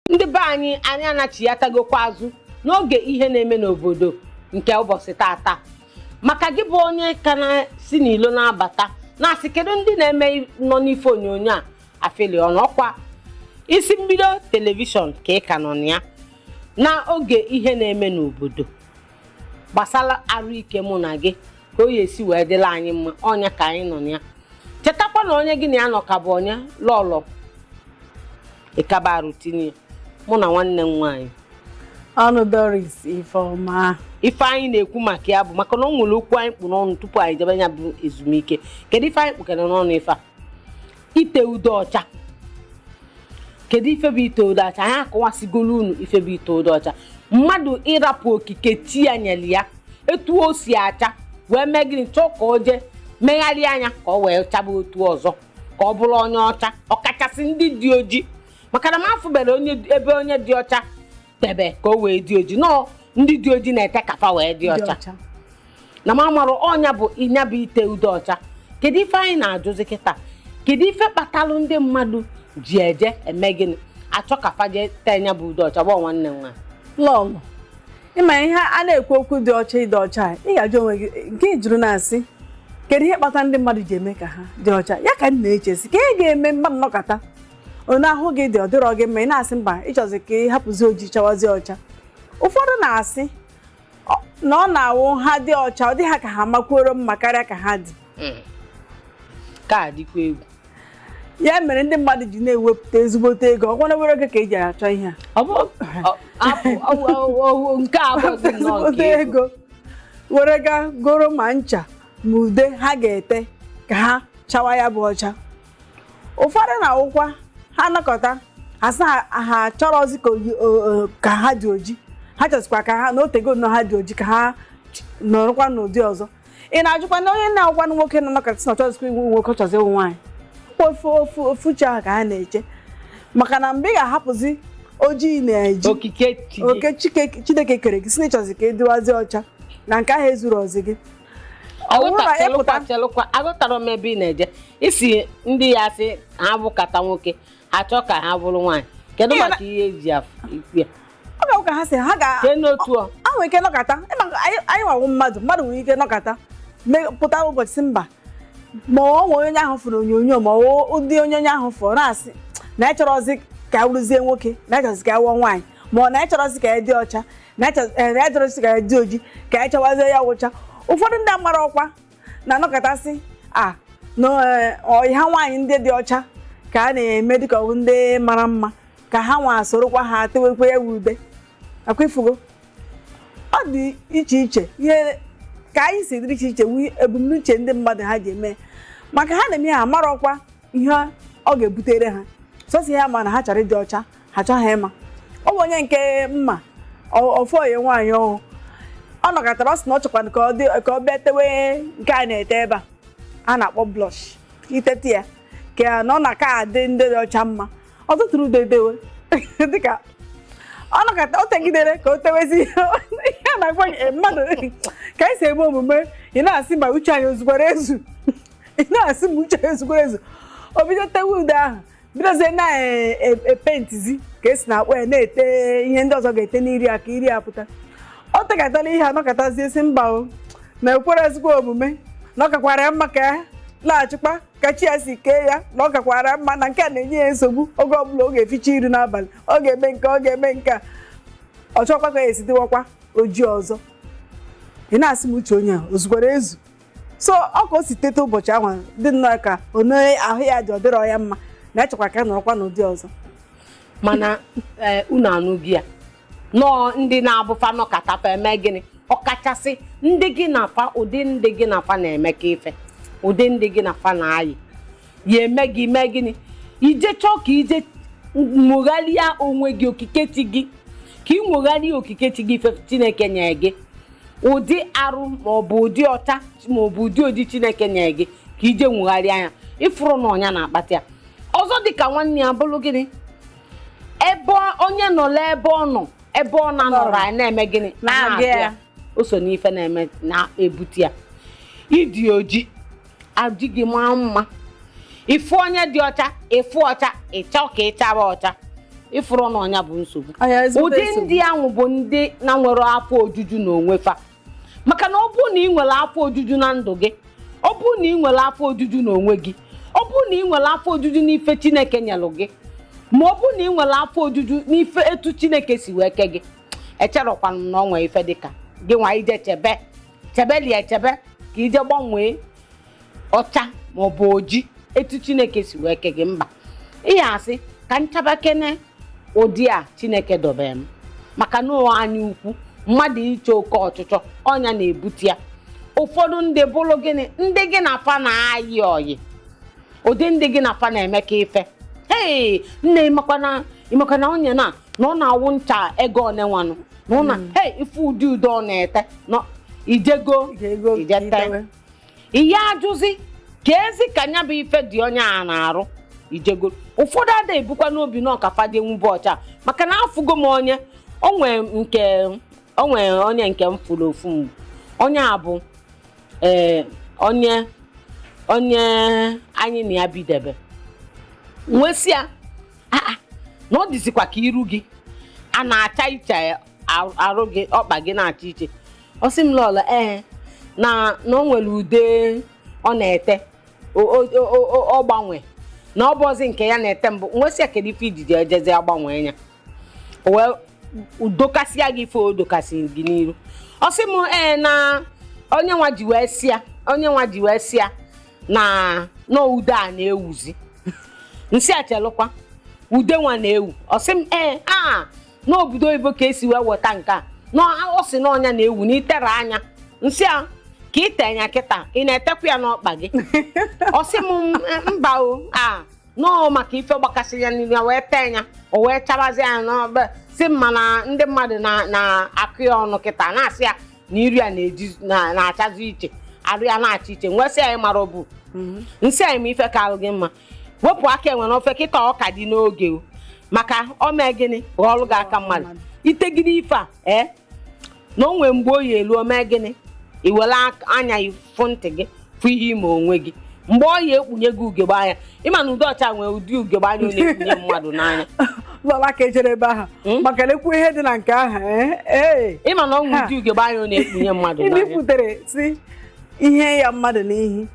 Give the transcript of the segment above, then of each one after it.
ndị be anyị anyị anachiatagokwa azụ n'oge ihe na-eme n'obodo nke ụbọchị tata maka gị bụ onye ka na-si n'ilo na-abata na-asị kedu ndị na-eme nọ n'ife onyonyo a afeli ọnụ ọkwa isi mbido telivishọn ka ị ka nọ na ya na oge ihe na-eme n'obodo gbasara arụ ike mụ na gị ka ọ ya-esi wee dịlị anyị mma ọ nya ka anyị nọ na ya chetakwa na onye gị na ya nọ ka bụ onye lọlọ ịkaba arụ tinye mụ na nwanne m nwaanyị ọnụ Doris Ifeọma ife anyị na-ekwu maka ya bụ maka na ọ nwere okwu anyị kpụ n'ọnụ tupu anyị jebe ya bụ ezumike kedu ife anyị kpụkere n'ọnụ ife a ite ude ọcha kedu ife bụ ite ude ọcha anyị akọwasigolu unu ife bụ ite ude ọcha mmadụ ịrapụ okike chi ya nyere ya etu o si acha wee mee gịnị chọọ ka o jee megharịa nya ka ọ wee chaba otu ọzọ ka ọ bụrụ onye ọcha ọkachasị ndị dị oji maka na m afụbere ebe onye dị ọcha tebe ka o wee dị oji na ọ ndị dị oji na-ete ka fa wee dị ọcha na m amarụ ọ nya bụ nya bụ ite ude ọcha kedu ife anyị na-ajụzi kịta kedu ife kpatalụ ndị mmadụ ji eje eme gịnị achọ ka fa jee tee nya bụ ude ọcha gbọ nwanne m nwa lọlọ ịma ihe a na-ekwu okwu dị ọcha ịdị ọcha a, ị ga-ajụ onwe gị nke ị jụrụ na-asị kedu ihe kpata ndị mmadụ ji eme ka ha dị ọcha ya ka m na-echezi ke ga-eme mmadụ nọkata onye ahụ gị dị ọ dịrọ gị mma ị na-asị mba ị chọzi ka ị hapụzi oji chawazi ọcha ụfọdụ na-asị ọ- na ọ na-awụ ha dị ọcha ọ dị ha ka ha makwuoro mma karịa ka ha dị hmm. ka a dịkwa egwu ya mere ndị mmadụ ji na-ewepụta ezigbote ego ọ gwara were oge ka eji achọ ihe a nke a ezigbote ego were gaa goro ma ncha ma ude ha ga-ete ka ha chawa ya bụ ọcha ụfọdụ na-awụkwa ha nọkata ha sị ha chọrọzi ka ha dị oji ha chọzikwa ka ha na o tego nnọọ ha dị oji ka ha nọrọkwa n'ụdị ọzọ ị na-ajụkwanụ onye na-awụkwanụ nwoke nọ nọkata na ọ chọzikwa ịwụ nwoke chọzi ịwụ nwaanyị ofu ofu ofu uche ahụ ka a na-eche maka na mgbe ị ga-ahapụzi oji ị na-eji okike chi gị. oke Chike- chineke kere gị sị na ị chọzi ka ị dịwazi ọcha na nke ahụ ezurozi gị ọ bụrụ na ị pụta Aghọtachelụkwa- chelụkwa aghọtara m ebe ị na-eje ị sị ndị a sị ha bụkata nwoke ha chọọ ka ha bụrụ nwaanyị kedu Ihe na- maka ihe eji afụ ikwu ya ọ ga-abụ ka ha si ha ga kee n'otu ọ a nwere ike nọkata ịma nke anyị anyị nwawo mmadụ mmadụ nwere ike nọkata me- pụta ụbọchị sị mba ma ọ nwee onye ahụ fụrụ onyonyo ma ọ ụdị onye onye ahụ fụrụ na-asị na anyị chọrọzi ka anyị wụrụzie nwoke na anyị chọrọzi ka anyị wụọ nwaanyị ma ọ na anyị chọrọzi ka anyị dị ọcha na anyị chọrọ- eh, na anyị chọrọzi ka anyị dị oji ka anyị chawazie ya wụ ọcha ụfọdụ ndị mmadụ kwa na-anọkata sị a na eh, ọyị ha nwaanyị ndị dị ọcha ka a na-eme dịka ọ bụ ndị mara mma ka ha nwa sorokwa ha tewekwa ya wu ude ọkwa ịfụgo ọ dị iche iche ihe ka anyị si dịrị iche iche wu ebumnuche ndị mmadụ ha ji eme maka ha na-eme ha marọkwa ihe ọ ga-ebutere ha sọsọ ya ma na ha chọrọ ịdị ọcha ha chọghị ịma ọ bụ onye nke m ma ofu onye nwaanyị ahụ ọ nọkatara ọ sị na ọ chọkwana ka ọ dị ka ọ bịa tewe nke a na-ete ebe a a na-akpọ blush itete ya ka ya na ọ na-aka adị ndị dị ọcha mma ọ tụtụrụ ude edewe dịka ọ nọkata o tegidere ka o tewezi ihe na-agwa gị, eh, mmadụ ka anyị si eme omume ị na-asị ma uche anyị o zukwara ezu ị na-asị ma uche anyị o zukwara ezu o bido tewe ude ahụ bidozie na-epentizi ka e si na-akpọ ya na-ete ihe ndị ọzọ ga-ete n'iru ya ka iru ya pụta o tekatala ihe a nọkatazie sị mba na o kwerọzikwa omume na ọ kakwara ya mma ka ya laghachikwa ka chi ya si kee ya na ọ kakwara mma na nke a na-enye ya nsogbu oge ọbụla ọ ga-eficha iru n'abalị ọ ga-eme nke a ọ ga-eme nke a ọ chọkwa ka ya esi dịwakwa oji ọzọ ị na-asị ma uche onye a o zukwara ezu so ọ ka o si teta ụbọchị ahụ dị nnọọ ka onye ahụ ya dị ọ dịrọ ya mma na-echekwa ka ya nọrọkwa n'ụdị ọzọ mana ee, unu anụghị ya nọọ ndị na-abụ fa nọkata fa eme gịnị ọkachasị ndị gị na fa ụdị ndị gị na fa na-emekọ ife ụdị ndị gị na fa na-ayị ya eme gị mee gịnị i je chọọ ka i je nwogharịa onwe gị okike chi gị ka ị nwogharịa okike chi gị ife chineke nyere gị ụdị arụ maọbụ ụdị ọcha maọbụ ụdị oji chineke nyere gị ka i je nwogharịa ya ị fụrụ na ọ nya na-akpata ya ọzọ dịka nwanne ya bụrụ gịnị ebe onye nọ n'ebe ọ nọ ebe ọ na-anọrọ anyị na-eme gịnị na-agụ ya o so n'ife na-eme na-ebute ya ị dị oji oji gị maa mma ị fụ onye dị ọcha ị fụ ọcha ị chọọ ka ị chaba ọcha ị fụrụ na ọ nya bụ nsogbu ụdị ndị ahụ bụ ndị na-enwerọ afọ ojuju na onwe fa maka na ọ bụrụ na ị nwere afọ ojuju na ndụ gị ọ bụrụ na ị nwere afọ ojuju na onwe gị ọ bụrụ na ị nwere afọ ojuju n'ife chineke nyelụ gị ma ọ bụrụ na ị nwere afọ ojuju n'ife etu chineke si wee kee gị echerọkwanụ m na ọ nwee ife dịka gị nwa i je chebe chebelị echebe ka i je gbanwee ọcha ma ọ bụ oji etu chineke si wee kee gị mba ị ya asị ka m chabakene ụdị a chineke dobere m maka na ọ anya ukwu mmadụ iche oke ọchịchọ ọ nya na-ebute ya ụfọdụ ndị bụrụ gịnị ndị gị na fa na-ayị ọyị ụdị ndị gị na fa na-emekọ ife ee nne ị makwa na ị makwa na onye na na ọ na-awụ ncha ego one nwanụ na ụna ee ị fụ ụdị ude ọ na-ete na i je go Ị ga-ego i je tee i tewe. ị ya-ajụzi keezi ka nya bụ ife dị onye a n'arụ ijego ụfọdụ ada ebukwa n'obi na ọ ka fa dị nwube ọcha maka na afụgo m onye o nwe nke o nwe onye nke m fụlụ ofu mgbe onye a bụ ee onye onye anyị na ya bidebe m wee sị ya "Ah, ah, na ọ dịzikwa ka iru gị a na-acha iche arụ gị ọkpa gị na-acha iche ọ sị m lọlọ ee na na o nwere ude ọ na-ete o- o- o- o- ọ gbanwe na ọ bụrọzi nke ya na-ete mbụ m wee sị ya kedu ife i ji i ji ejezi agbanwe ya o wee dọkasịa gị ife ọ dọkasị gị n'iru ọ sị m ee na onye nwa ji wee sịa onye nwa ji wee sịa na na ude a na-ewuzi m sị ya chelụkwa ude nwa na-ewu ọ sị m ee a n'obodo oyibo ka e si wee weta nke a na ọ sị na ọ nya na-ewu na i tee nya m sị ya ka i tee nya kịta ị na-etekwa ya n'ọkpa gị ọ sị m "M- mba o na ọ maka ife gbakasị ya n'iru ya wee tee ya o wee chabazi ya na o wee sị m mana ndị mmadụ na- na-akọ ya ọnụ kịta na-asị ya na iru ya na-eji- na- na-achazi iche arụ ya na-acha iche m wee sị ya na ị mara ọ bụ m sị ya na ị ma ife kaalụ gị mma wepụ aka enwe n'ofe kịta ọ ka dị n'oge o maka o mee gịnị ghọọlụ gị aka mmadụ i tegide ife a ee na o nwee mgbe ọ ya-elu o mee gịnị i were ak- anya gị fụ ntị gị fụ ihe i me onwe gị mgbe ọ ya-ekpunye gị ugegbe anya ị ma na ude ọcha nwee ụdị ugegbe anya ọ na-ekpunye mmadụ n'anya lọla ka e jere ebe ahụ Mm. maka lekwu ihe dị na nke ahụ ee ee ị ma na o nwee Ha. ụdị ugegbe anya ọ na-ekpunye mmadụ n'anya ibipụtere si ihe ya mmadụ n'ihi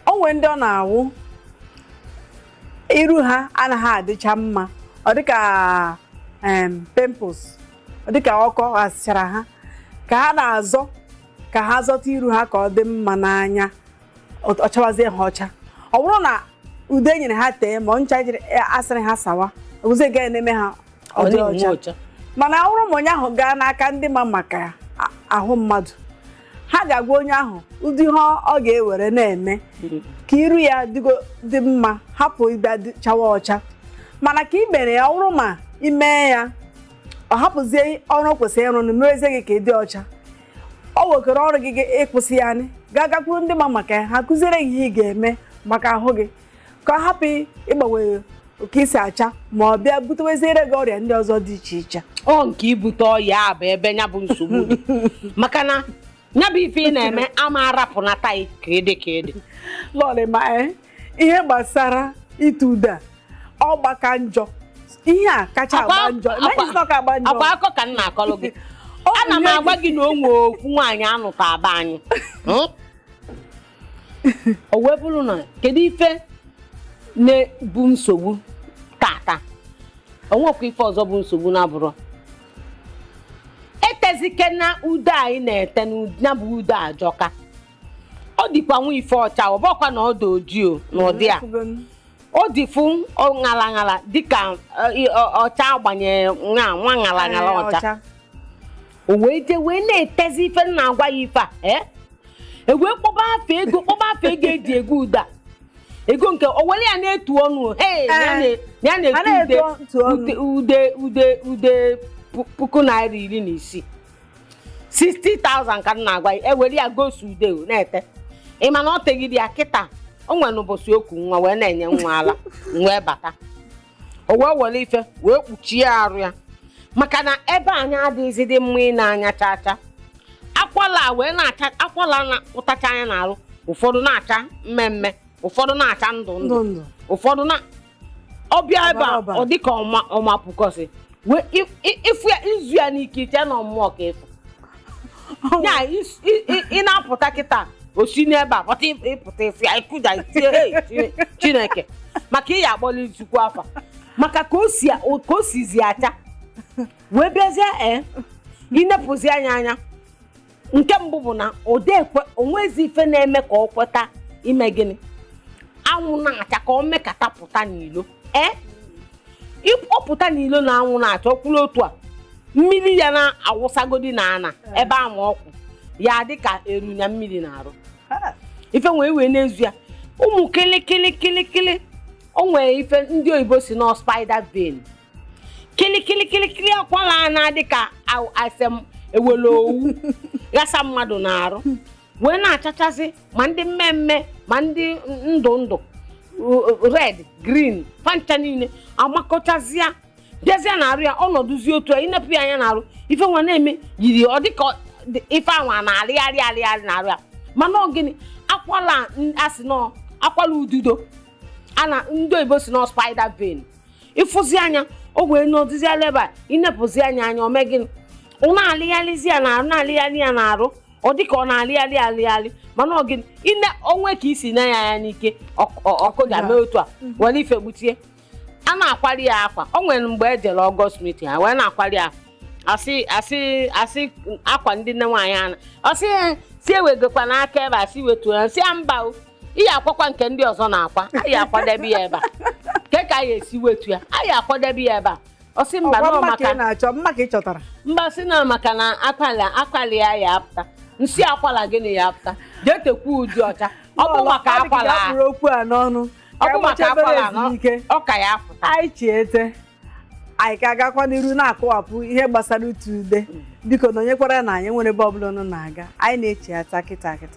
o nwere ndị ọ na-awụ iru ha anaghị adịcha mma ọ dịka em, pimples ọ dịka ọkọ asịchara ha ka ha na-azọ ka ha zọta iru ha ka ọ dị mma n'anya ọ ọ chawazie ha ọcha ọ bụrụ na ude e nyere ha tee ma ọ ncha jiri a sịrị ha sawa ọ wụzi ya na-eme ha ọ dị ọcha mana ọ bụrụ ma onye ahụ gaa n'aka ndị ma maka a- ahụ mmadụ ha ga-agwa onye ahụ ụdị ihe ọ ga-ewere na-eme ka iru ya dịgo dị mma hapụ ịbịa dị- chawa ọcha mana ka i mere ya ọ bụrụ ma i mee ya ọ hapụzie ọrụ o kwesịrị ịrụ na mewezie gị ka ị dị ọcha o wekọrọ ọrụ gị gị ịkwụsị ya anyị gaa gakwuru ndị ma maka ya ha kụziere gị ihe ị ga-eme maka ahụ gị ka ọ hapụ ịgbanwe ka i si acha ma ọ bịa buteweziere gị ọrịa ndị ọzọ dị iche iche ọ nke ibute ọya a bụ ebe ya bụ nsogbu dị maka na ya bụ ife ị na-eme ama arapụ na taị ka ede ka ede lọlị ma ee ihe gbasara ite ude a, ọ gbaka njọ ihe a kacha Akwa- agba njọ akwa- Imagine na ọ ka agba njọ akwa akọ ka m na-akọlụ gị Ọ bụ ana m ihe agwa gị na o nwee otu nwaanyị a nụtaa be anyị Hmm? o wee bụrụ na kedu ife na-abụ nsogbu tata o nwekwa ife ọzọ bụ nsogbu na-abụrụ etezike na ude anyị na-ete na bụ ude ajọka ọ dịkwa nwa ife ọcha ọ bụkwa na ọ dị ojii o, na ụdị a o dịfụ ṅala ṅala dịka eh, ọcha agbanye nwa nwa ṅala ṅala ọcha o wee jee wee na-etezi ife m na-agwa gị ife a ee e wee kpọba afa ego kpọba afa ego eji ego ude a ego nke o were ya na-etu ọnụ o. Hey, ya na- ya A na-etu na-etu ude ntụ ọnụ. ude ude ude ude pu- puku naira iri na isii 60,000 ka m na-agwa gị e were ya gosi ude ọ na-ete ị ma na ọ tegide ya kịta o nwere mbọsị o ku nwa wee na-enye nwa ala m wee bata o wee were ife wee kpuchie arụ ya maka na ebe anwa adịghịzi dị mma ine anya chaa chaa akwala a wee na-acha akwala na-apụtacha nya n'arụ ụfọdụ na-acha mmee mmee ụfọdụ na-acha ndụ ndụ ndụ ndụ ụfọdụ na ọ bịa ebe a Ọbara ọbara. ọ dịka ọma ọma pụkọsị wee ị fụ ya i zu ya n'ike i chee na ọ mmụọ ka ị fụ ya is- i- i- ị na-apụta kịta o si n'ebe a pụta ị- ị pụta ị fụ ya ị kụja i tie "Hey, Chine- chineke maka ị ya-akpọlị Chukwu afa maka ka o si ka o sizi acha wee bịazie ee i nepụzi nya anya nke mbụ bụ na odekwe o nwezi ife na-eme ka ọ kweta ime gịnị anwụ na-acha ka ọ mekata pụta n'ilo ee ịpụta n'ilo na anwụ na-acha ọ kwụrụ otu a mmiri ya na-awụsagodi na ana ebe ahụ ọ kwụ ya dị ka e ru nya mmiri n'arụ Ha. ife nwee wee na-ezu ya ụmụ kịlịkịlịkịlịkịlị o nwere ife ndị oyibo sị na ọ spider vein kịlịkịlịkịlịkịlị akwala na-adị ka aw- a sị na e wele owu ghasa mmadụ n'arụ wee na-achachasị ma ndị mmee mmee ma ndị ndụ ndụ red green fa ncha niile amakọchazịa bịazịa n'arụ ya ọ nọdụzi otu a i nepụ ya anya n'arụ ife nwa na-eme yiri ọ dịka ọ- dị- ife anwa na-arịgharị arịgharị n'arụ ya mana ọ gịnị akwala n- a sị na ọ akwala ududo a na ndị oyibo sị na ọ spider vein ị fụzi nya o wee nọdụzi ala ebe a i nepụzi nya anya o mee gịnị ọ na-alịgharịzi ya n'arụ na-alịgharị ya n'arụ ọ dị ka ọ na-alịgharị alịgharị mana ọ gị ine o nwe ka i si ne ya anya n'ike ọk- ọ- ọkụ ga-eme otu a were ife gbuchie a na-akwari ya akwa o nwere mgbe e jere ọgọst mitin ha wee na-akwari ya a sị a sị a sị akwa ndị nne nwaanyị a na-asị ya sị ewegokwa n'aka ebe a sị wetuo ya sị ya mba o iyi akwakwa nke ndị ọzọ na-akwa anyị akwadebe ya ebe a kee ka anyị esi wetu ya anyị akwadebe ya ebe a ọ sị mba ọgwa nọ mma ka maka ị na-achọ mma ka ị chọtara mba sị na maka na akwali akwali ya ya apụta nsị akwala gịnị ya apụta jee tekwa ude ọcha ọ bụ maka Ọ dị ka ị akwala a, ga-akpụrụ okwu a n'ọnụ ọ bụ maka akwala a, nọ- ike ọ ka ya apụta anyị chiete anyị ka agakwa n'iru na-akọwapụ ihe gbasara ite ude biko nọnyekwaranụ anyị enwerọ ebe ọbụla unu na-aga anyị na-echiata kịta kịta